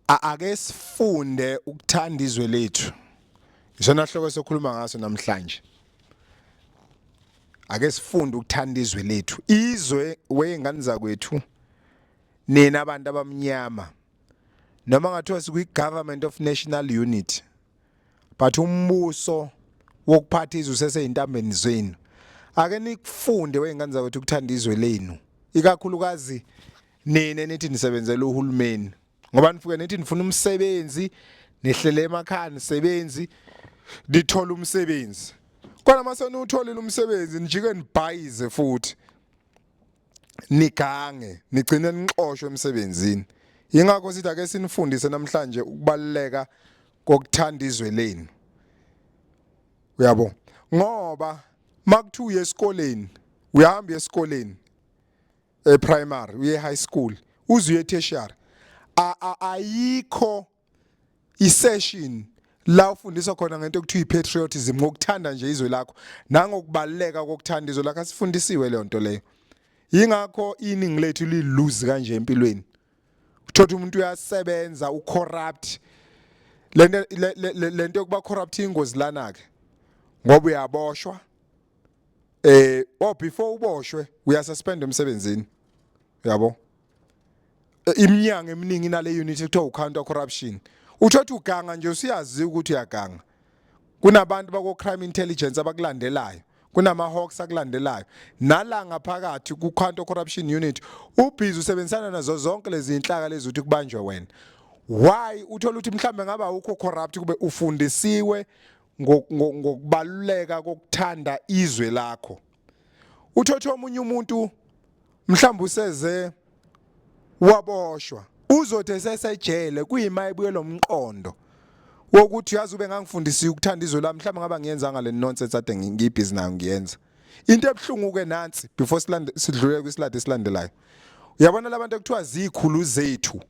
ake sifunde ukuthanda izwe lethu isona hloko sokhuluma ngaso namhlanje ake sifunde ukuthanda izwe lethu izwe weyingane zakwethu nina abantu abamnyama noma ngathiwa sikwi-government of national unity but umbuso wokuphatha izwe useseyintambeni zenu ake nikufunde weyingane zakwethu ukuthanda izwe lenu ikakhulukazi nina nithi nisebenzela uhulumeni ngoba nifuke nithi nifuna umsebenzi nihlele emakhaya nisebenzi nithola umsebenzi kodwa mase niwutholile umsebenzi nijike nibhayize futhi nigange nigcine nixoshwe emsebenzini ingakho sithi ake sinifundise namhlanje ukubaluleka kokuthanda izwe lenu uyabo ngoba makuthiwa uye esikoleni uyahamba esikoleni e primary uye high school uze uye tertiary ayikho isession la ufundiswa khona ngento okuthiwa ipatriotism ngokuthanda nje izwe lakho nangokubaleka kokuthanda izwe lakho asifundisiwe leyo nto leyo yingakho iningi lethu liluzi kanje empilweni uthothi umuntu uyasebenza ucorrupt lento lento yokuba corrupt ingozi lana ke ngoba uyaboshwa eh oh before uboshwe uyasuspend emsebenzini yabo eh, iminyango eminingi nale unit ekuthiwa ucounter corruption uthothi uganga nje usiyazi ukuthi uyaganga kunabantu bako-crime intelligence abakulandelayo kunama-hawks akulandelayo nala ngaphakathi ku-counter corruption unit ubhizi usebenzisana nazo zonke lezi zinhlaka lezi ukuthi kubanjwe wena why uthola ukuthi mhlawumbe ngabe awukho corrupt kube ufundisiwe ngokubaluleka kokuthanda izwe lakho uthothe omunye umuntu mhlawumbe useze waboshwa uzothi esesejele kuyima ebuye lomqondo wokuthi uyazi ube ngangifundisiwe ukuthanda izwe lami mhlawumbe ngaba ngiyenza ngale nonsense ade ngiyibhizi nayo ngiyenza into ebuhlungu ke nansi before silande sidlule kwisilade esilandelayo uyabona labantu ekuthiwa zikhulu zethu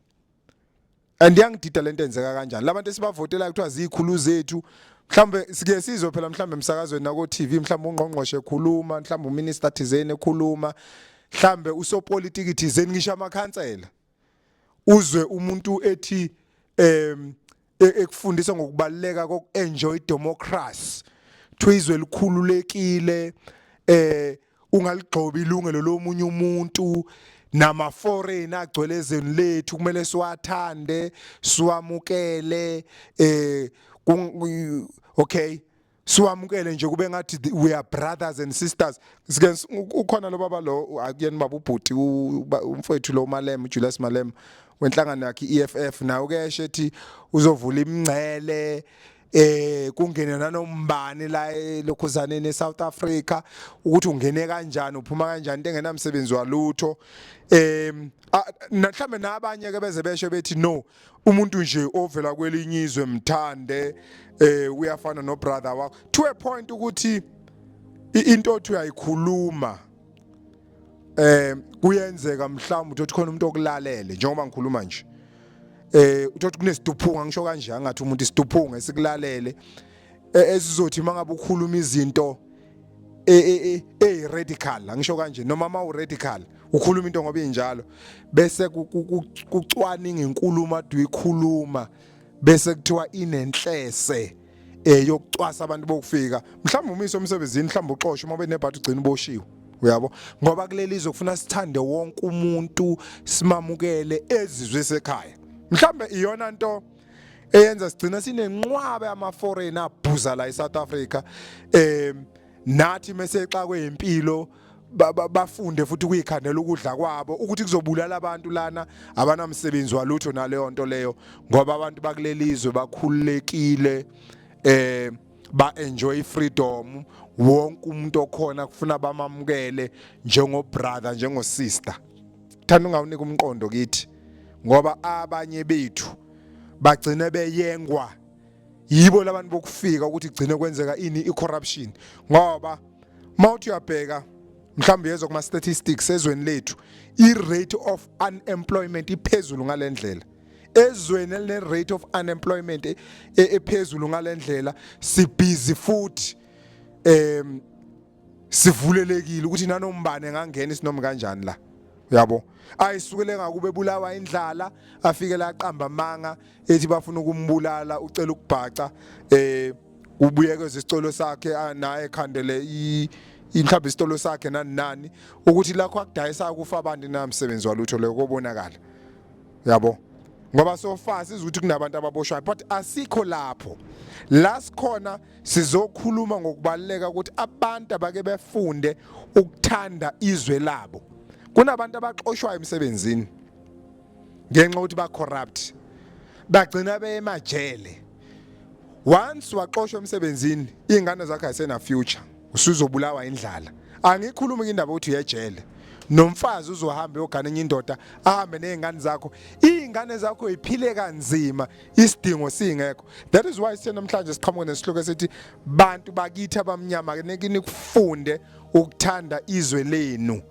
and yangidida lento enzeka kanjani labantu esibavotela kuthiwa zikhulu zethu mhlambe sike sizwe phela mhlambe emsakazweni nako TV mhlambe ungqongqoshe ekhuluma mhlambe uminister thizeni ekhuluma mhlambe usopolitiki thizeni ngisho amakhansela uzwe umuntu ethi em e-, ekufundisa ngokubaluleka koku-enjoy democracy kuthiwa izwe elikhululekile eh ungaligxobi ilungelo lomunye umuntu nama foreign agcwele ezweni lethu kumele siwathande siwamukele eh okay siwamukele nje kube ngathi we are brothers and sisters sike ukhona lo baba lo akuyena baba ubhuti umfowethu lo Malem Julius Malem wenhlangano yakhe EFF nawo ke eshe ethi uzovula imingcele eh kungene nanombani la elokhuzaneni eSouth Africa ukuthi ungene kanjani uphuma kanjani into engenamsebenzi walutho em mhlambe nabanye ke beze besho bethi no umuntu nje ovela kwelinye izwe mthande eh uyafana no brother wakho to a point ukuthi into othi uyayikhuluma eh kuyenzeka mhlawumbe uthi khona umuntu okulalele njengoba ngikhuluma nje eh uthi kunesiduphunga ngisho kanje angathi umuntu isiduphunga esikulalele e, esizothi mangabe ukhuluma izinto e, e, e, e radical angisho kanje noma ma u radical ukhuluma into ngoba injalo bese kucwaninga inkulumo aduyikhuluma bese kuthiwa inenhlese eh yokucwasa abantu bokufika mhlawumbe umise umsebenzini mhlawumbe uxoshwe uma benebhathi ugcina uboshiwe uyabo ngoba kuleli izokufuna sithande wonke umuntu simamukele ezizwe sekhaya mhlawumbe iyona nto eyenza sigcina sinenqwaba yama-foreign abhuza la e-south africa um nathi mesexakwe yimpilo bafunde futhi kuyikhandela ukudla kwabo ukuthi kuzobulala abantu lana abanamsebenzi walutho naleyo nto leyo ngoba abantu bakulelizwe bakhululekile eh ba enjoy freedom wonke umuntu okhona kufuna bamamukele njengo brother njengo sister thanda ungawunika umqondo kithi ngoba abanye bethu bagcine beyengwa yibo labantu bokufika ukuthi gcine kwenzeka ini i-corruption ngoba mawuthi uyabheka mhlawumbe yezwa kuma statistics ezweni lethu i rate of unemployment iphezulu ngalendlela ezweni eline rate of unemployment e, e, ephezulu ngalendlela sibhizi futhi um sivulelekile ukuthi nanombane engangena isinomi kanjani la yabo ayisukele ngakube bulawa indlala afike la qamba manga ethi bafuna ukumbulala ucela ukubhaca eh ubuyekeza isicelo sakhe naye khandele i inhlaba isitolo sakhe nani nani ukuthi lakho akudayisa kufa abantu namsebenzi walutho leyo kobonakala yabo ngoba sofa sizuthi kunabantu ababoshwayo but asikho lapho la sikhona sizokhuluma ngokubaluleka ukuthi abantu abake befunde ukuthanda izwe labo kunabantu abaxoshwayo emsebenzini ngenxa ukuthi ba corrupt bagcina beyemajele once waxoshwa emsebenzini ingane zakhe ayisena future usuzobulawa indlala angikhulumi ke indaba ukuthi uyejele nomfazi uzohamba uyogana enye indoda ahambe nezingane zakho izingane zakho ziphile kanzima isidingo singekho that is why senamhlanje siqhamuka nesihloko esithi bantu bakithi abamnyama niki nikufunde ukuthanda izwe lenu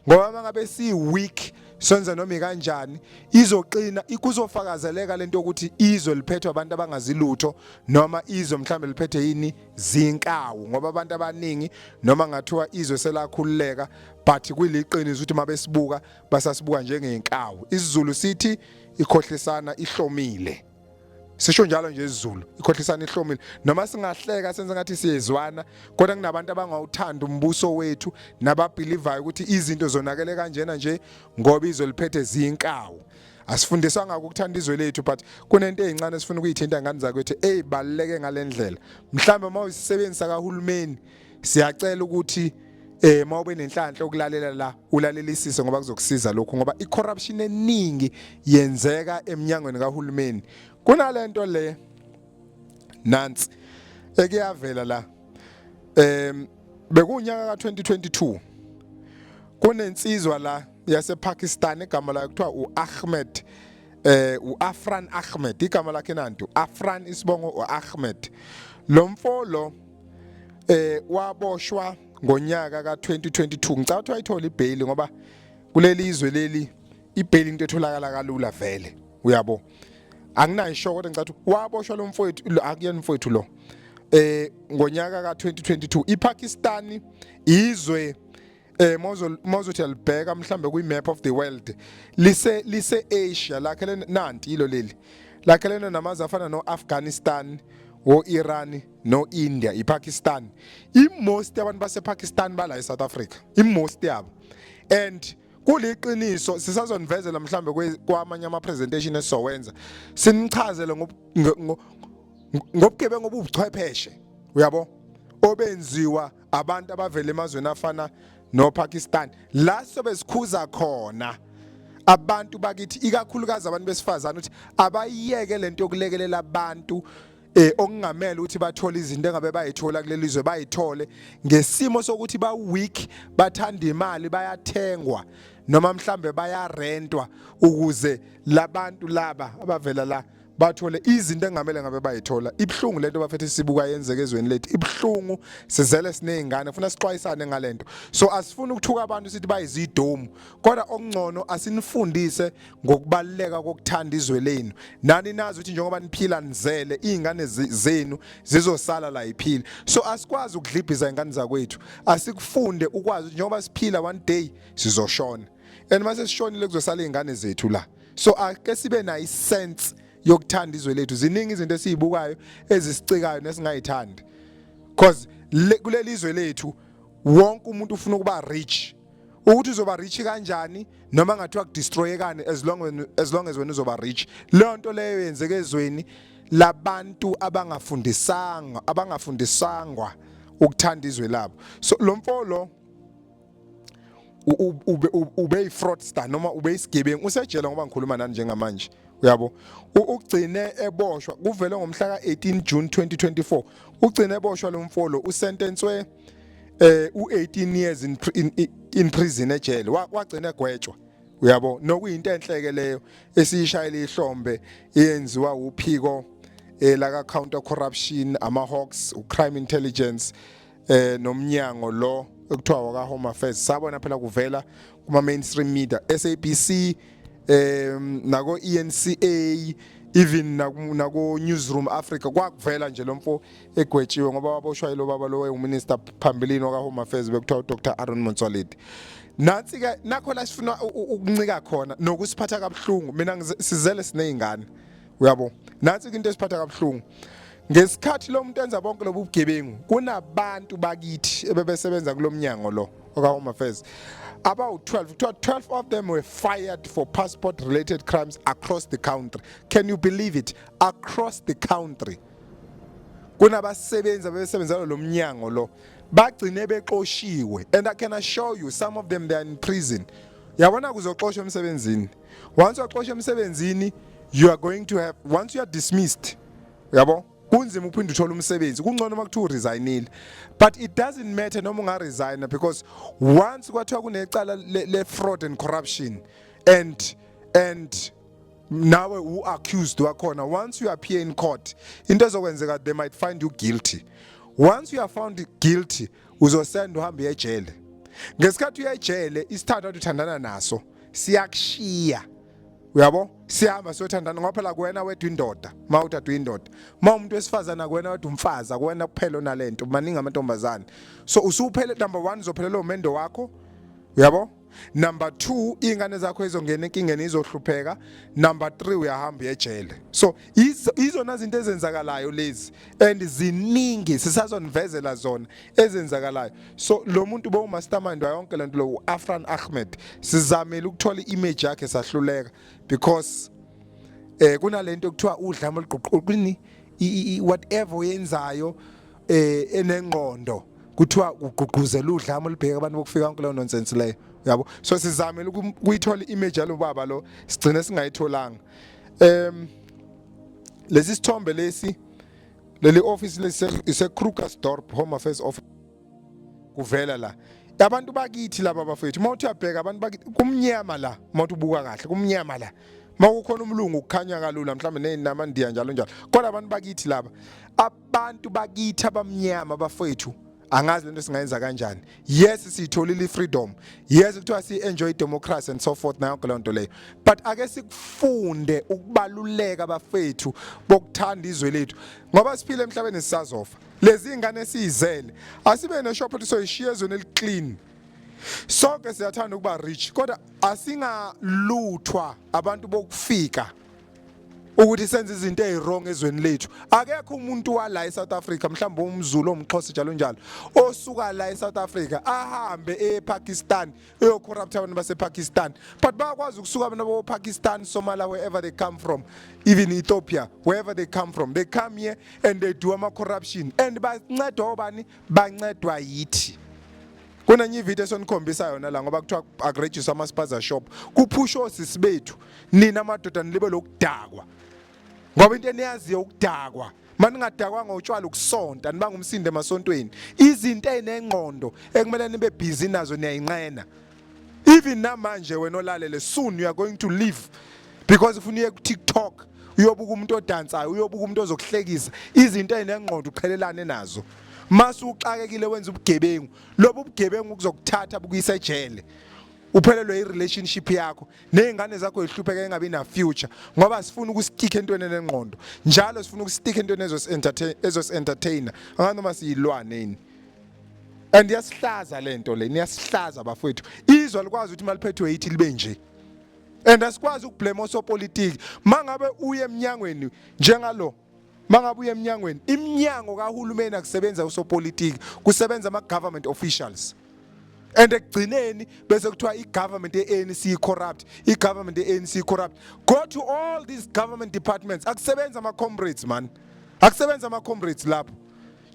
ngoba mangabe si weak senza noma kanjani izoqina ikuzofakazeleka lento ukuthi izwe liphethwe abantu abangazilutho noma izwe mhlambe liphethe yini zinkawu ngoba abantu abaningi noma ngathiwa izwe selakhululeka but kuliqiniso ukuthi mabesibuka basasibuka njengenkawu isizulu sithi ikhohlisana ihlomile sisho njalo nje isiZulu ikhohlisana ihlomile noma singahleka senze ngathi siyezwana kodwa kunabantu abangawuthanda umbuso wethu nababhilivayo ukuthi izinto zonakele kanjena nje ngoba izwe liphethe zinkawu asifundiswa ngako ukuthanda izwe lethu but kunento ezincane esifuna ukuyithinta ngani zakwethu ezibaluleke ngalendlela mhlawumbe uma usisebenzisa kahulumeni siyacela ukuthi eh mawube nenhlanhla ukulalela la ulalelisise ngoba kuzokusiza lokho ngoba icorruption eningi yenzeka eminyangweni kahulumeni kunalento le nansi ekuyavela la em bekunyaka ka2022 kunensizwa la yasePakistan igama layo kuthiwa uAhmed eh uAfran Ahmed igama lakhe nantu Afran isibongo uAhmed lo mfo lo eh waboshwa ngonyaka ka2022 ngicabanga ukuthi wayithola ibail ngoba kuleli izwe leli ibail into etholakala kalula vele uyabo anginayisho kodwa ngicabanga ukuthi waboshwa lo mfowethu akuyena mfowethu lo eh ngonyaka ka2022 iPakistan izwe eh mawuzothi alibheka mhlambe kwi map of the world lise lise Asia lakhe nanti ilo leli lakhe lena namazi afana no Afghanistan wo Iran no India i Pakistan i most abantu base Pakistan bala e South Africa i most yabo and kuliqiniso sisazonivezela mhlambe kwamanye ama presentation esizowenza sinichazele ngobugebengu obubuchwepheshe uyabo obenziwa abantu abavela emazweni afana noPakistan la sobe sikhuza khona abantu bakithi ikakhulukazi abantu besifazana ukuthi abayiyeke lento yokulekelela abantu eh okungamela ukuthi bathole izinto engabe bayithola kuleli zwe bayithole ngesimo sokuthi ba weak bathanda imali bayathengwa noma mhlambe bayarentwa ukuze labantu laba abavela la bathole izinto engamele ngabe bayithola ibhlungu lento bafethu sibuka yenzeke ezweni lethu ibhlungu sizele sinezingane funa sixwayisane ngalento so asifuni ukuthuka abantu sithi bayizidomu kodwa okungcono asinifundise ngokubaluleka kokuthanda izwe lenu nani nazi ukuthi njengoba niphila nizele izingane zenu zizosala la iphile so asikwazi ukudlibhiza ingane zakwethu asikufunde ukwazi njengoba siphila one day sizoshona and uma sesishonile kuzosala iy'ngane zethu la so ake sibe nayo isense yokuthanda izwe lethu ziningi izinto esiyibukayo ezisicikayo nesingayithandi cause kuleli izwe lethu wonke umuntu ufuna ukuba rich ukuthi uzoba rich kanjani noma ngathiwa kudestroyekani as long as long as wena uzoba rich leyo nto leyo yenzeke ezweni labantu abangafundisanga abangafundisangwa ukuthanda izwe labo so lo mfo lo ube ifraudster noma ube isigebengu usejele ngoba ngikhuluma nani njengamanje uyabo ugcine eboshwa kuvele ngomhla ka-18 June 2024 ugcine eboshwa lo mfolo usentenswe eh u18 years in, in, in prison ejele wagcina egwetshwa uyabo nokuyinto enhleke leyo esiyishayela ihlombe eyenziwa uphiko eh, laka counter corruption ama hawks u crime intelligence eh nomnyango lo ekuthiwa waka home affairs sabona phela kuvela kuma mainstream media SABC em nako ENCA even nako newsroom Africa kwakuvela nje lomfo egwetshiwe ngoba waboshwa yilo baba lo wayenguminister phambilini waka home affairs bekuthiwa uDr Aaron Motsoaledi nathi ke nakho la sifuna ukuncika khona nokusiphatha kabuhlungu mina sizele sinezingane uyabo nansi into esiphatha kabuhlungu ngesikhathi lo muntu enza bonke lobu bugebengu kunabantu bakithi ebebesebenza kulomnyango lo oka home affairs about 12 kuthiwa 12 of them were fired for passport related crimes across the country can you believe it across the country kunabasebenzi abebesebenzela lo mnyango lo bagcine bexoshiwe and i can assure you some of them they are in prison yabona kuzoxoshwa emsebenzini once waxosha emsebenzini you are going to have once you are dismissed yabo kunzima ukuphinde uthole umsebenzi kungcono uma kuthiwa uresignile but it doesn't matter noma ungaresigna because once kwathiwa kunecala le-fraud and corruption and and nawe u-accused wakhona once you appear in court into ezokwenzeka they might find you guilty once you are found guilty uzosenda uhambe uyejele ngesikhathi uyejele isithathu athi uthandana naso siyakushiya uyabo sihamba siyothandana ngoba phela kuwena wedwa indoda uma uthatha uyindoda uma umuntu wesifazane akuwena wedwa umfazi akuwena kuphela onalento maningi amantombazane so usuphele number 1 uzophelela umendo wakho uyabo number 2 ingane zakho izongena enkingeni izohlupheka number 3 uyahamba uyejele so izona zinto ezenzakalayo lezi and ziningi sisazonivezela zona ezenzakalayo so lo muntu bowumastermind wayonke lento lo uAfran Ahmed sizamile ukuthola iimage yakhe sahluleka because eh kunalento kuthiwa udlame oluguqukini whatever oyenzayo eh enengqondo kuthiwa ugqugquzela udlame olubheka abantu bokufika konke leyo nonsense leyo yabo so sizamile ukuyithola image yalo baba lo sigcine singayitholanga Em lesi sithombe lesi leli office lesi ise Krugersdorp Home Affairs Office kuvela la abantu bakithi laba bafethu uma uthi uyabheka abantu bakithi kumnyama la uma uthi ubuka kahle kumnyama la uma kukhona umlungu kukhanya kalula mhlawumbe nezinama ndiya njalo njalo kodwa abantu bakithi laba abantu bakithi abamnyama bafethu angazi lento singayenza kanjani yes siyitholile freedom yes kuthiwa si enjoy democracy and so forth nayo yonke lonto leyo but ake sikufunde ukubaluleka bafethu bokuthanda izwe lethu ngoba siphile emhlabeni sisazofa lezi ingane siyizele asibe ne shop soyishiya ezweni eliclean sonke siyathanda ukuba rich kodwa asingaluthwa abantu bokufika ukuthi senze izinto eziwrong ezweni lethu akekho umuntu wala eSouth Africa mhlawumbe umZulu omxhosa njalo njalo osuka la eSouth Africa ahambe ePakistan eyocorrupt abantu basePakistan but bayakwazi ukusuka abantu boPakistan Somalia wherever they come from even Ethiopia wherever they come from they come here and they do ama corruption and bancedwa obani bancedwa yithi kunenye ividiyo esonikhombisa yona la ngoba kuthiwa akurejiswa ama-spaza shop kuphusha osisi bethu nina madoda nilibe lokudakwa ngoba into eniyaziyo ukudakwa maningadakwanga utshwala ukusonta nibanga umsindo emasontweni izinto ezinengqondo ekumele nibe busy nazo niyayinqena even namanje wena olalele soon you are going to leave because ufuna uye ku-tiktok uyobuka umuntu odansayo uyobuka umuntu ozokuhlekisa izinto ezinengqondo uqhelelane nazo mase uxakekile wenza ubugebengu lobu bugebengu kuzokuthatha bukuyisa ejele uphelelwe i-relationship yakho nezingane zakho zihlupheka engabi na future ngoba sifuna ukustika entweni enengqondo njalo sifuna ukustika entweni ezos entertain ezos entertainer anganoma siyilwane yini and yasihlaza lento le niyasihlaza bafowethu izwa likwazi ukuthi maliphethwe yithi libe nje and asikwazi ukublame osopolitiki mangabe uye emnyangweni njengalo mangabe uye emnyangweni iminyango kahulumeni akusebenza usopolitiki kusebenza ama government officials and ekugcineni bese kuthiwa i-government ye-anc i-corrupt i-government ye-anc i-corrupt go to all these government departments akusebenza ama-comrades mani akusebenza ama-comrades lapho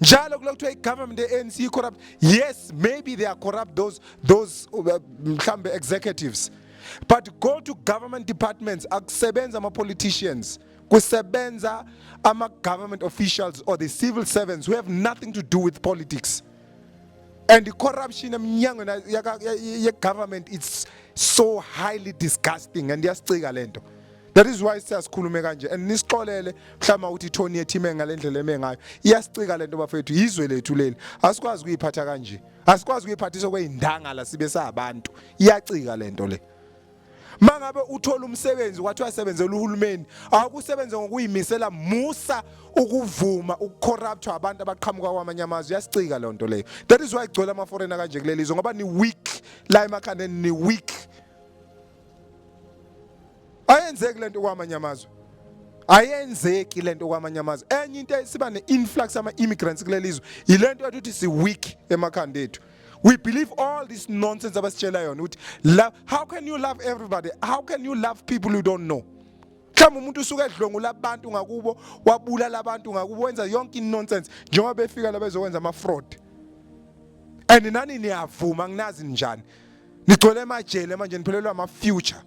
njalo kula kuthiwa i-government ye-anc i-corrupt yes maybe they are corrupt those, those uh, mhlawumbe executives but go to government departments akusebenza ama-politicians kusebenza ama government officials or the civil servants who have nothing to do with politics and the corruption emnyango ye government it's so highly disgusting and yasicika lento that is why siyasikhulume kanje and nisixolele mhlawumbe ukuthi ithoni yethu ime ngale ndlela eme ngayo iyasicika lento bafethu yizwe lethu leli asikwazi kuyiphatha kanje asikwazi kuyiphathisa kweyindangala sibe sabantu iyacika lento le mangabe uthola umsebenzi wathi uyasebenzela uhulumeni awukusebenze ngokuyimisela musa ukuvuma ukucorruptwa abantu abaqhamuka kwamanye amazwe yasicika leyo nto leyo that is why igcwele amaforena kanje kuleli zwe ngoba ni weak la emakhandeni ni weak ayenzeki le nto kwamanye amazwe ayenzeki lento kwamanye amazwe enye into esiba ne-influx ama-immigrants kuleli zwe yile nto yokuthi si-weak emakhanda ethu we believe all this nonsense abasitshela yona ukuthi love how can you love everybody how can you love people you don't know mhlawumbe umuntu usuke edlwengula abantu ngakubo wabulala abantu ngakubo wenza yonke inonsense njengoba befika la bezokwenza ama-fraud and nani niyavuma nginazi njani nigcwele emajele manje niphelelwa ama future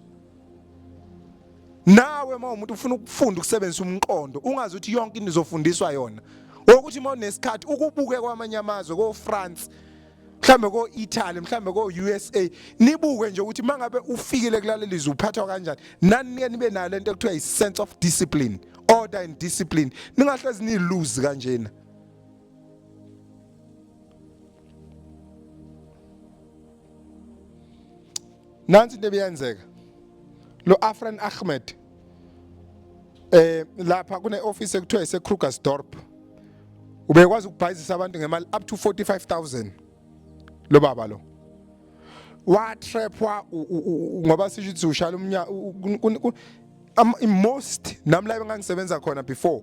nawe uma umuntu ufuna ukufunda ukusebenzisa umqondo ungazi ukuthi yonke into izofundiswa yona ukuthi uma unesikhathi ukubuke kwamanye amazwe ko France mhlambe ko Italy mhlambe ko USA nibuke nje ukuthi mangabe ufikile kulaleli izwe uphathwa kanjani nani niye nibe nayo lento ekuthiwa i sense of discipline order and discipline ningahlezi ni lose kanjena nansi into ebiyenzeka lo Afran Ahmed eh lapha kune office ekuthiwa ise Krugersdorp ubekwazi ukubhayizisa abantu ngemali up to 45000 lo baba lo wa trap wa ngoba sisho ukuthi ushala umnya most nami la bengangisebenza khona before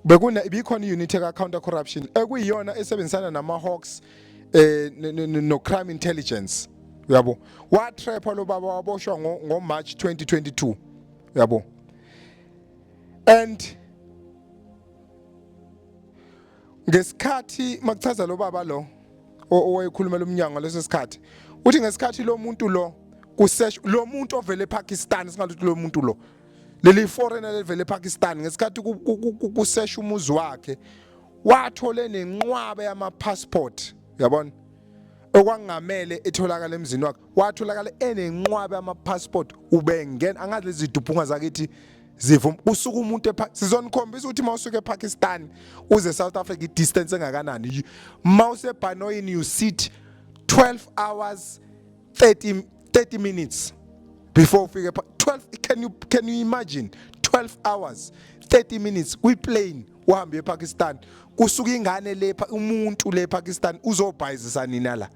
bekune ibikhona i-unit eka-counter corruption ekuyiyona esebenzisana nama-hawks eh no-crime intelligence uyabo watrapha lo baba waboshwa ngomarch 2022 uyabo and ngesikhathi makuchaza lo baba lo owayekhulumela umnyango leso sikhathi uthi ngesikhathi lo muntu lo kusesh lo muntu ovele ePakistan singathi lo muntu lo leli foreigner lelivele ePakistan ngesikhathi kusesha umuzi wakhe wathole nenqwaba yama passport yabona okwangamele etholakala emzini wakhe watholakala enenqwaba yama passport ubengena angazi lezi duphunga zakithi zivuma usuka umuntu sizonikhombisa ukuthi uma usuke ePakistan uze South Africa i-distance engakanani uma usebhanoyini you sit 12 hours 30 30 minutes before ufike 12 can you can you imagine 12 hours 30 minutes kwi plane uhambe ePakistan kusuka ingane le umuntu le Pakistan uzobhayizisa nina la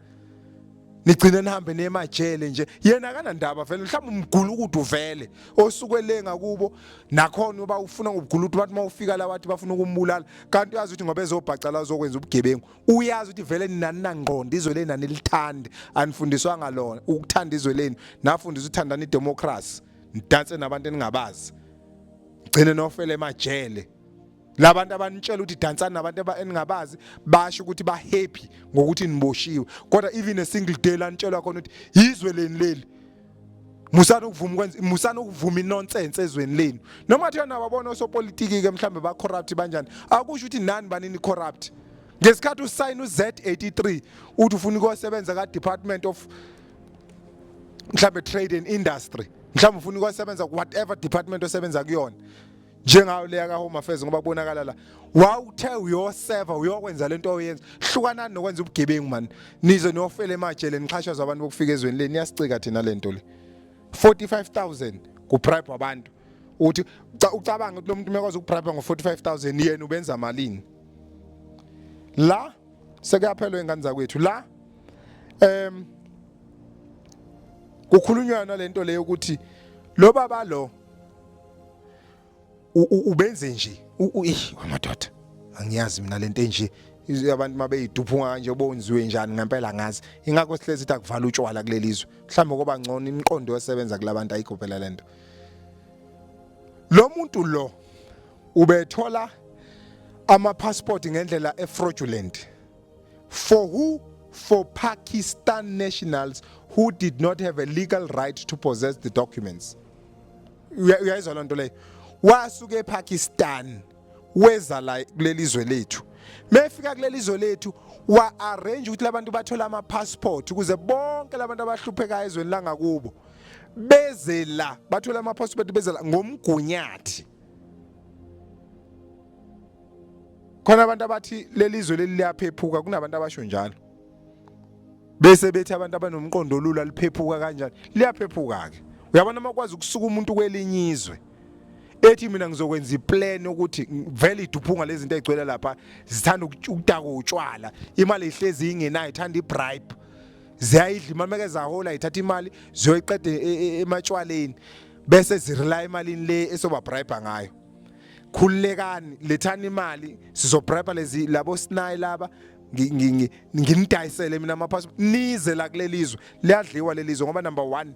nigcine nihambe nemajele nje yena kanandaba vele mhlawumbe umgula ukuthi uvele osuke le ngakubo nakhona uba ufuna ngokugula ukuthi bathi mawufika la wathi bafuna ukumbulala kanti uyazi ukuthi ngoba ezobhaca la uzokwenza ubugebengu uyazi ukuthi vele nani nangqondo izwe leni anilithandi anifundiswanga lona ukuthanda izwe leni nafundisa uthandana idemocracy nidanse nabantu eningabazi gcine nofele emajele labantu abanitshela ukuthi dansani nabantu eningabazi basho ukuthi ba happy ngokuthi niboshiwe kodwa even a single day lanitshelwa khona ukuthi yizwe leni leli musani ukuvuma ukwenza musani ukuvuma inonsense ezweni lenu noma kuthiwa nababona osopolitiki-ke mhlawumbe ba-corrupt banjani akusho ukuthi nani banini corrupt ngesikhathi usayina u-z83 uthi ufuna ukuyosebenza ka-department of mhlawumbe trade and industry mhlawumbe ufuna ukuyosebenza whatever department osebenza kuyona njengayo leya ka Home Affairs ngoba kubonakala la wawuthe uyoseva uyokwenza lento oyenza hlukanani nokwenza ubugebengu man nize niyofela emajele nixhashazwa abantu bokufika ezweni leni niyasicika thina lento le 45000 kubribe abantu uthi ucabanga ukuthi lo muntu umekwazi ukubribe ngo 45000 yena ubenza malini la sekuyaphelwa ingane zakwethu la em kukhulunywa nalento leyo ukuthi lo baba lo ubenze nje uyish amadoda angiyazi mina lento enje abantu mabeyiduphunga kanje bonziwe njani ngempela ngazi ingakho sihlezi ithi akuvala utshwala kulelizwe mhlawumbe koba ngcono imiqondo yosebenza kulabantu ayigobhela lento lo muntu lo ubethola ama passport ngendlela e fraudulent for who for Pakistan nationals who did not have a legal right to possess the documents uyayizwa loo nto leyo wasuka epakistan weza la kuleli zwe lethu mefika kuleli zwe lethu wa-arrange ukuthi labantu bathole ama-passport ukuze bonke labantu abahluphekayo ezweni langakubo beze la bathole ama-passport beze la ngomgunyathi khona abantu abathi leli zwe leli liyaphephuka kunabantu abasho njalo bese bethi abantu abanomqondo olula liphephuka kanjani liyaphephuka-ke uyabona uma kwazi ukusuka umuntu kwelinye izwe ethi mina ngizokwenza iplan ukuthi vele iduphunga lezi zinto ezigcwele lapha zithanda ukudaka utshwala imali ihlezi ingenayo ithanda ibribe ziyayidla imali meke zahola ithatha imali ziyoyiqeda e, e, e, ematshwaleni bese zirela emalini le esobabribe ngayo khululekani lethani imali sizobribe lezi labo sinayi laba nginidayisele mina amapassport nize la kulelizwe liyadliwa lelizwe ngoba number 1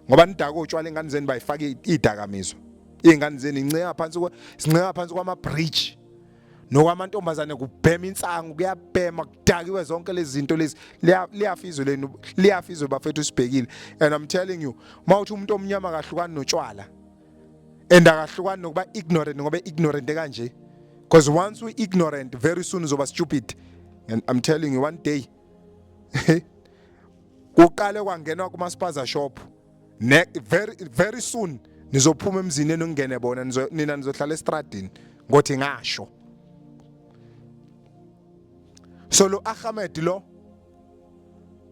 ngoba nidaka utshwala ingane zenu bayifaka idakamizwa ingane zenu inceya phansi kwa sinceya phansi kwama bridge nokwamantombazane kubhema insangu kuyabhema kudakiwe zonke lezi zinto lezi liyafizwe lenu liyafizwe bafethu sibhekile and i'm telling you mawuthi umuntu omnyama kahlukani notshwala and akahlukani nokuba ignorant ngoba ignorant kanje because once we ignorant very soon uzoba stupid and i'm telling you one day kuqale kwangenwa kuma spaza shop ne very very soon nizophuma emzini eningene bona nina nizohlala estradini ngothi ngasho so lo Ahmed lo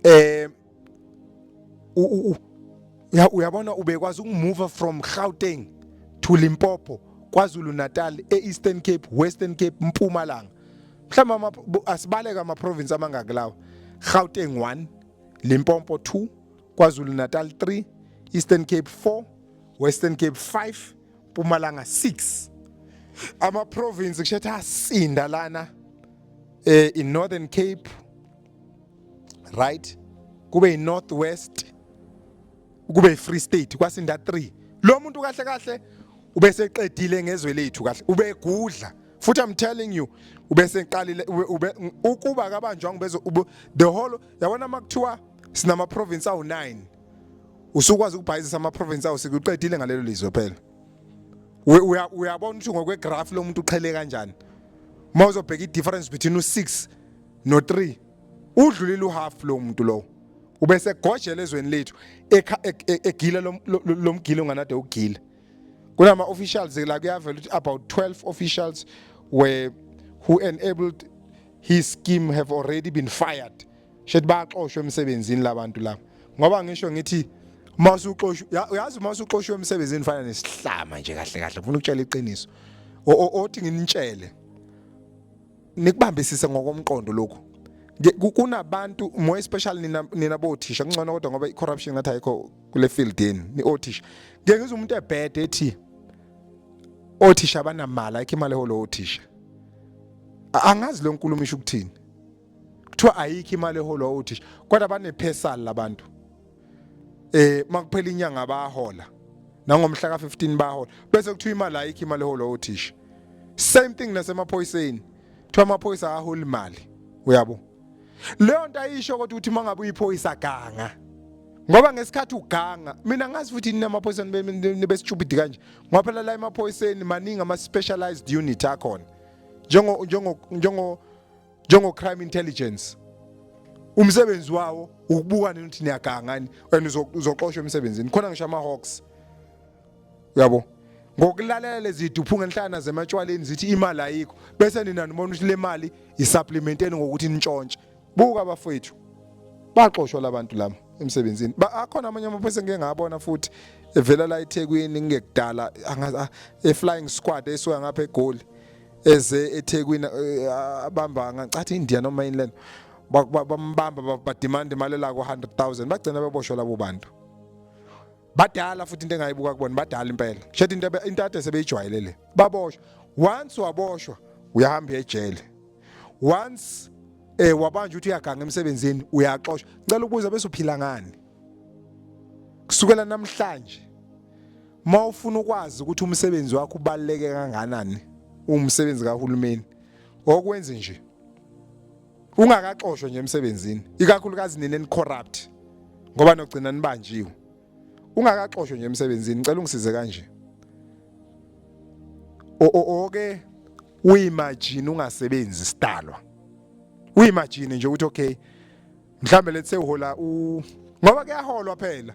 eh uyabona ubekwazi ukumuva from Gauteng to Limpopo KwaZulu Natal e-Eastern Cape Western Cape Mpumalanga mhlawumbe asibaleka ama province amangaki lawa Gauteng 1 Limpopo 2 KwaZulu Natal 3 Eastern Cape 4 Western Cape 5 Mpumalanga 6 ama province kushetha asinda lana eh in Northern Cape right kube iNorth West kube iFree State kwasinda 3 lo muntu kahle kahle ubeseqedile ngezwe lethu kahle ubegudla futhi i'm telling you ubeseqalile ukuba kabanjwa ngibezo the whole yabona makuthiwa sinama province awu9 usukwazi ukubhayizisa ama province awu sikuqedile ngalelo lizwe phela uyabona ukuthi ngokwe graph lomuntu uqhele kanjani uma uzobheka i difference between u6 no 3 udlulile uhalf lo muntu lowo ubese gojela ezweni lethu e, e, egila lomgilo onganade ugila kunama officials la kuyavela ukuthi about 12 officials were who enabled his scheme have already been fired shethi baxoshwe emsebenzini labantu laba ngoba ngisho ngithi masuxoshwe uyazi masuxoshwe emsebenzini fana nesihlama nje kahle kahle ngifuna ukutshela iqiniso othi nginitshele nikubambisise ngokomqondo lokhu kunabantu more especially nina nina bothisha kungcono kodwa ngoba icorruption ngathi ayikho kule field yenu ni othisha ngeke ngizwe umuntu ebhede ethi othisha abanamali ayikho imali eholo othisha angazi lo nkulumo isho ukuthini kuthiwa ayikho imali eholo othisha kodwa banephesali labantu eh makuphela inyanga bahola nangomhla ka15 bahola bese kuthiwa imali ayikho imali eholo othisha same thing nasemaphoyiseni kuthiwa amaphoyisa aholi imali uyabo leyo nto ayisho kodwa ukuthi mangabe uyiphoyisa ganga ngoba ngesikhathi uganga mina ngazi futhi nina amaphoyisa nibesitshubidi kanje ngoba phela la emaphoyiseni maningi ama specialized unit akhona njengo njengo njengo njengo-crime intelligence umsebenzi wawo ukubuka nini ukuthi niyagangani and uzoxoshwa emsebenzini khona ngisho ama-hawks uyabo ngokulalela lezi duphu ngenhlana zematshwaleni zithi imali ayikho bese nina nibona ukuthi le mali yisapplimenteni ngokuthi nitshontshe buka abafowethu baxoshwa labantu lama emsebenzini akhona amanye amaphoyisa engike ngabona futhi evela la eThekwini ngekudala e-flying squad esuka ngapha eGoli eze eThekwini eh, abamba ngacathi India noma yini lena Ba- ba- bambamba ba- bademand imali la ku-100000 bagcina beboshwa labo bantu badala futhi into engayibuka kubona badala impela shethe into ebe- into ade sebeyijwayele le baboshwa once waboshwa uyahamba uya ejele once eh wabanjwa ukuthi uyaganga emsebenzini uyaxoshwa ngicela ukubuza bese uphila ngani kusukela namhlanje Uma ufuna ukwazi ukuthi umsebenzi wakho ubaluleke kanganani umsebenzi kahulumeni okwenze nje ungakaxoshwa nje emsebenzini ikakhulukazi nina ni corrupt ngoba nogcina nibanjiwe ungakaxoshwa nje emsebenzini ngicela ungisize kanje oke uyimagine ungasebenzi sidalwa uyimagine nje ukuthi okay mhlambe lethe uhola u ngoba kuyaholwa phela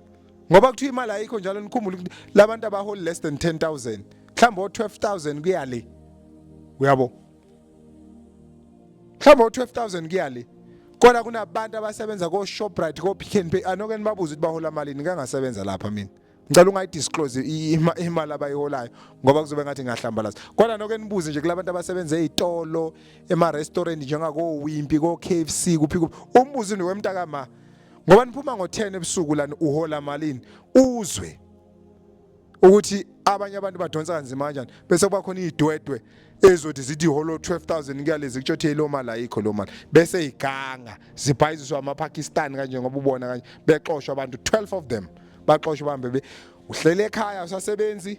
ngoba kuthiwa imali ayikho njalo nikhumbule ukuthi labantu abaholi less than 10000 mhlawumbe o 12000 kuyale uyabo mhlawumbe o 12000 kuyale kodwa kunabantu abasebenza ko Shoprite ko Pick n Pay anoke nibabuze ukuthi bahola malini kangasebenza lapha mina ngicela ungayidisclose imali abayiholayo ngoba kuzobe ngathi ngahlambalaza kodwa noke nibuze nje kulabantu abasebenza ezitolo ema restaurant njengako Wimpy ko KFC kuphi kuphi umbuzi ni wemntaka ma ngoba niphuma ngo10 ebusuku lana uhola malini uzwe ukuthi abanye abantu badonsa kanzima kanjani bese kuba khona idwedwe ezothi zithi holo 12000 kuyalezi kutshothi lo mali ayikho lo mali bese iganga zibhayiziswa ama Pakistan kanje ngoba ubona kanje bexoshwa abantu 12 of them baxoshwe bambe be uhlele ekhaya usasebenzi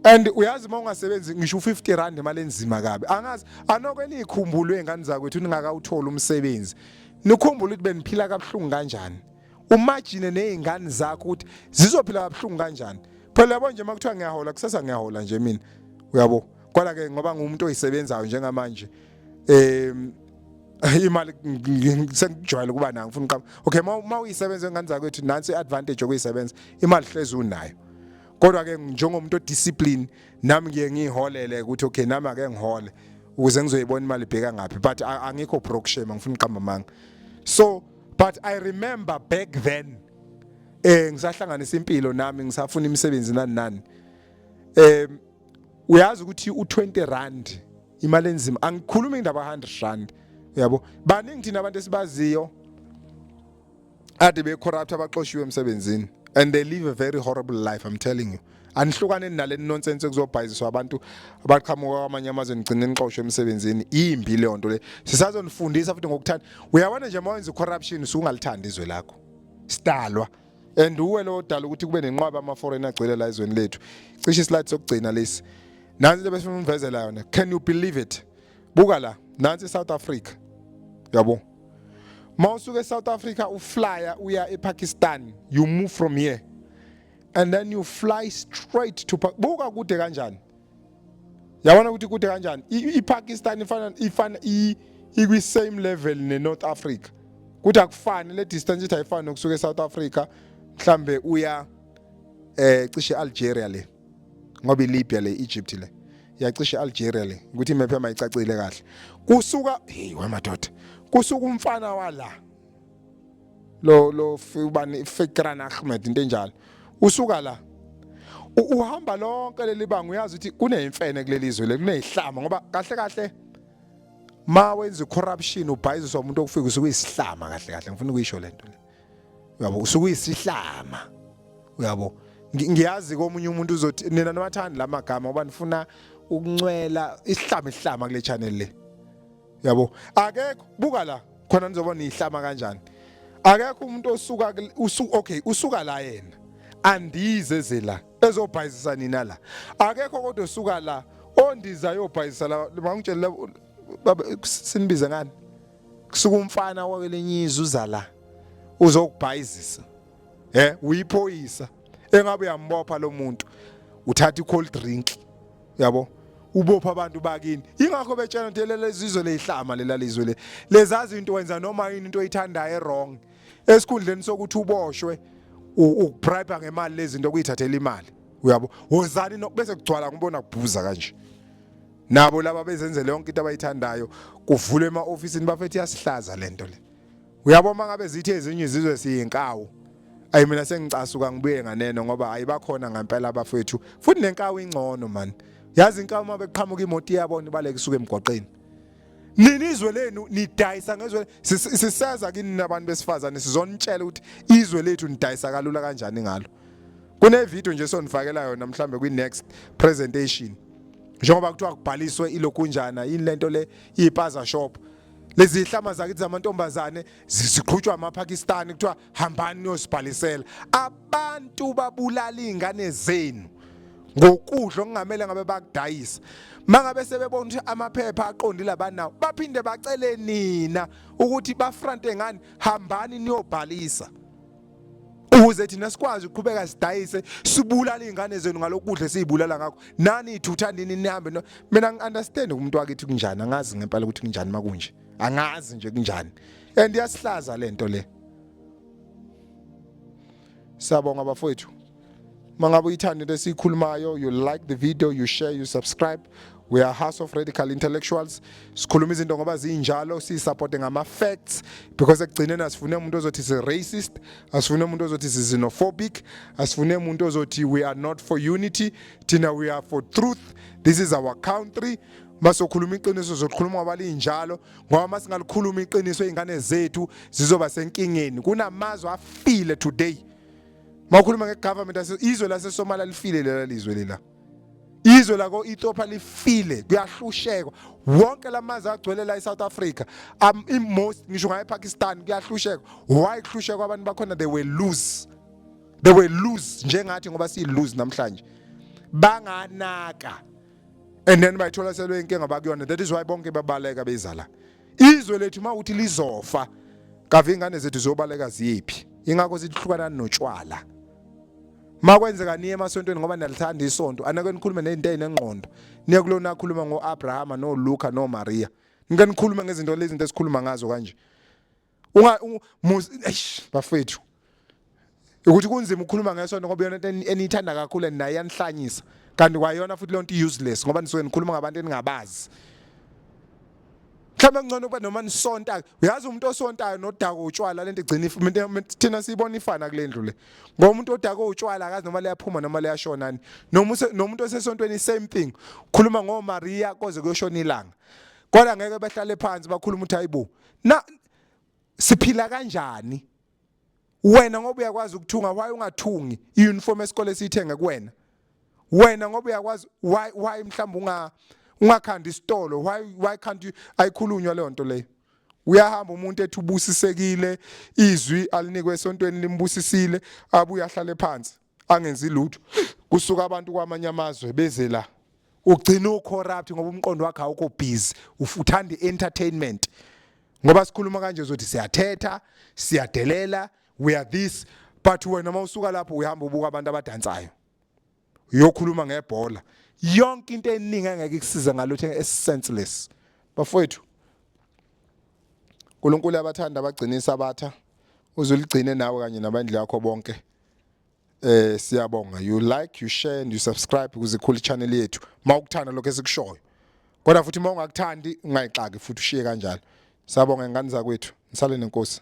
and uyazi uma ungasebenzi ngisho u50 rand imali enzima kabi angazi anokwe nikhumbulo ezingane zakwethu ningakawuthola umsebenzi nikhumbula ukuthi beniphila kabuhlungu kanjani umagine nezingane zakho ukuthi zizophila kabuhlungu kanjani phela yabo nje makuthiwa ngiyahola kusasa ngiyahola nje mina uyabo kwala ke ngoba ngumuntu oyisebenzayo njengamanje em imali sengijwayele ukuba nayo ngifuna uqaba okay uma uyisebenza ngani zakwethu nansi iadvantage yokuyisebenza imali hlezi unayo kodwa ke njengomuntu odiscipline nami ngiye ngiholele ukuthi okay nami ake ngihole ukuze ngizoyibona imali ibheka ngaphi but angikho broke shame ngifuna uqamba manga so but i remember back then eh ngisahlanganisa impilo nami ngisafuna imisebenzi nani nani eh uyazi ukuthi u20 rand imali enzima angikhulumi indaba 100 rand yabo baningi thina abantu esibaziyo ade be corrupt abaxoshiwe emsebenzini and they live a very horrible life i'm telling you anihlukane nale nonsense kuzobhayiziswa abantu abaqhamuka kwamanye amazwe nigcine nixoshwe emsebenzini imbi leyo nto le sisazonifundisa futhi ngokuthanda uyabona nje uma wenza corruption usungalithandi izwe lakho sidalwa and uwe lo odala ukuthi kube nenqwaba ama foreign agcwele la ezweni lethu cishe islide sokugcina lesi nansi into besifuna umvezela yona can you believe it buka la nansi South Africa yabo mawusuka eSouth Africa uflyer uya ePakistan you move from here and then you fly straight to buka kude kanjani yabona ukuthi kude kanjani ipakistan ifana ifana ikwi-same level ne-north africa kuthi akufani le distance ithi ayifani nokusuka e-south africa mhlambe uya eh cishe e-algeria le ngoba ilibya le egypt le yacishe e-algeria le ukuthi imephe mayicacile kahle kusuka hey wamadoda kusuka umfana wala lo lo ubani Fikran Ahmed into enjalo usuka la uhamba lonke leli banga uyazi ukuthi kuneyimfene kuleli zwe lekunezihlama ngoba kahle kahle ma wenza corruption ubhayiziswa umuntu okufika usuke isihlama kahle kahle ngifuna ukuyisho lento le uyabo usuke isihlama uyabo ngiyazi komunye umuntu uzothi nina niwathanda lamagama ngoba nifuna ukuncwela isihlama isihlama kule channel le yabo akekho buka la khona nizoba nihlama kanjani akekho umuntu osuka usu okay usuka la yena andize ze la ezobhayizisa nina la akekho kodwa osuka la ondiza yobhayizisa la mangitshela baba sinibize ngani kusuka umfana wakelenye izwe uza la uzokubhayizisa eh uyiphoyisa engabe uyambopha lo muntu uthatha i-cold drink yabo ubopha abantu bakini ingakho betshela ukuthi lelizizwe leyihlama lelalizwe le lezazi into wenza noma yini into oyithandayo ewrong esikhundleni sokuthi uboshwe ukubribe ngemali lezinto kuyithathela imali uyabo wozani nokubese kugcwala ngibona kubhuza kanje nabo laba bezenzele yonke into abayithandayo kuvulwe ema office bafethu yasihlaza lento le uyabo uma ngabe zithi ezinye izizwe siyinkawu ayi mina sengicasuka ngibuye nganeno ngoba ayibakhona ngempela abafethu futhi nenkawu ingcono mani yazi inkawu uma beqhamuka imoto iyabona ibaleke isuke emgwaqeni nini izwe lenu nidayisa ngezwe siseza kini nabantu besifazane sizonitshela ukuthi izwe lethu nidayisa kalula kanjani ngalo kune video nje sonifakela yona mhlambe kwi next presentation njengoba kuthiwa kubhaliswe ilokunjana yini lento le ipaza shop lezi zihlama zakithi zamantombazane ziqhutshwa amapakistani kuthiwa hambani niyosibhalisela abantu babulala iy'ngane zenu ngokudla okungamele ngabe bakudayisa mangabe sebebona ukuthi amaphepha aqondile abanawo baphinde bacele nina ukuthi bafrante ngani hambani niyobhalisa ukuze thina sikwazi ukuqhubeka sidayise sibulala izingane zenu ngalokudla esizibulala ngakho nani ithutha nini nihambe no mina ngiunderstand umuntu wakithi kunjani angazi ngempela ukuthi kunjani makunje angazi nje kunjani and yasihlaza lento le Siyabonga bafowethu. mangabe uyithanda into esiyikhulumayo you like the video you share you subscribe we are house of radical intellectuals sikhuluma izinto ngoba zinjalo siyisupporte ngama-facts because ekugcineni asifune umuntu ozothi si-racist asifune umuntu ozothi si-xenophobic asifune umuntu ozothi we are not for unity thina we are for truth this is our country masokhuluma iqiniso zokhuluma ngoba linjalo ngoba uma singalikhuluma iqiniso iy'ngane zethu zizoba senkingeni kunamazwe afile today Mawukhuluma ngegovernment ase izwe lase Somalia lifile lela lizwe lela. Izwe lako Ethiopia lifile kuyahlushekwa. Wonke lamazi agcwele la eSouth Africa. Um in most ngisho ngaye Pakistan kuyahlushekwa. Why kuhlushekwa abantu bakhona they will lose. They will lose njengathi ngoba si lose namhlanje. Banganaka. And then bayithola selwe inkinga bakuyona. That is why bonke babaleka bezala. izwe lethu uma uthi lizofa kave ingane zethu ziyobaleka ziyephi ingakho zihlukanani notshwala makwenzeka niye emasontweni ngoba niyalithanda isonto anake nikhulume nezinto ezinengqondo niye kulona akhuluma ngoAbrahama noLuka noMaria nike nikhulume ngezinto lezi zinto esikhuluma ngazo kanje unga bafethu ukuthi kunzima ukukhuluma ngesonto ngoba yona eniyithanda kakhulu and naye yanihlanyisa kanti kwayona futhi lonto useless ngoba nisuke nikhuluma ngabantu eningabazi mhlawumbe ngcono kuba noma nisonta uyazi umuntu osontayo nodaka utshwala lento igcina thina siyibona ifana kule ndlu le ngoba umuntu odaka utshwala akazi noma liyaphuma noma liyashonani noma nomuntu osesontweni same thing khuluma ngoMaria koze kuyoshona ilanga kodwa ngeke behlale phansi bakhuluma uthi hayibo na siphila kanjani wena ngoba uyakwazi ukuthunga why ungathungi iuniform esikole esiyithenga kuwena wena ngoba uyakwazi why why mhlawumbe unga ungakhanda isitolo why why can't you ayikhulunywa leyo nto leyo uyahamba umuntu ethi ubusisekile izwi alinikwe esontweni limbusisile abuye ahlale phansi angenzi lutho kusuka abantu kwamanye amazwe beze la ugcina ucorrupt ngoba umqondo wakhe awukho busy ufuthanda entertainment ngoba sikhuluma kanje uzothi siyathetha siyadelela we are this but wena uma usuka lapho uyahamba ubuka abantu abadansayo uyokhuluma ngebhola yonke into eningi engeke ikusize ngalutho esenseless bafowethu uNkulunkulu abathanda abagcinisa abatha uzuligcine nawe kanye nabandla yakho bonke Eh siyabonga you like you share and you subscribe ukuze ikhule channel yethu. Mawukuthanda lokho esikushoyo. Kodwa futhi uma ungakuthandi ungayixaki futhi ushiye kanjalo. Siyabonga ingane zakwethu. Nisale nenkosi.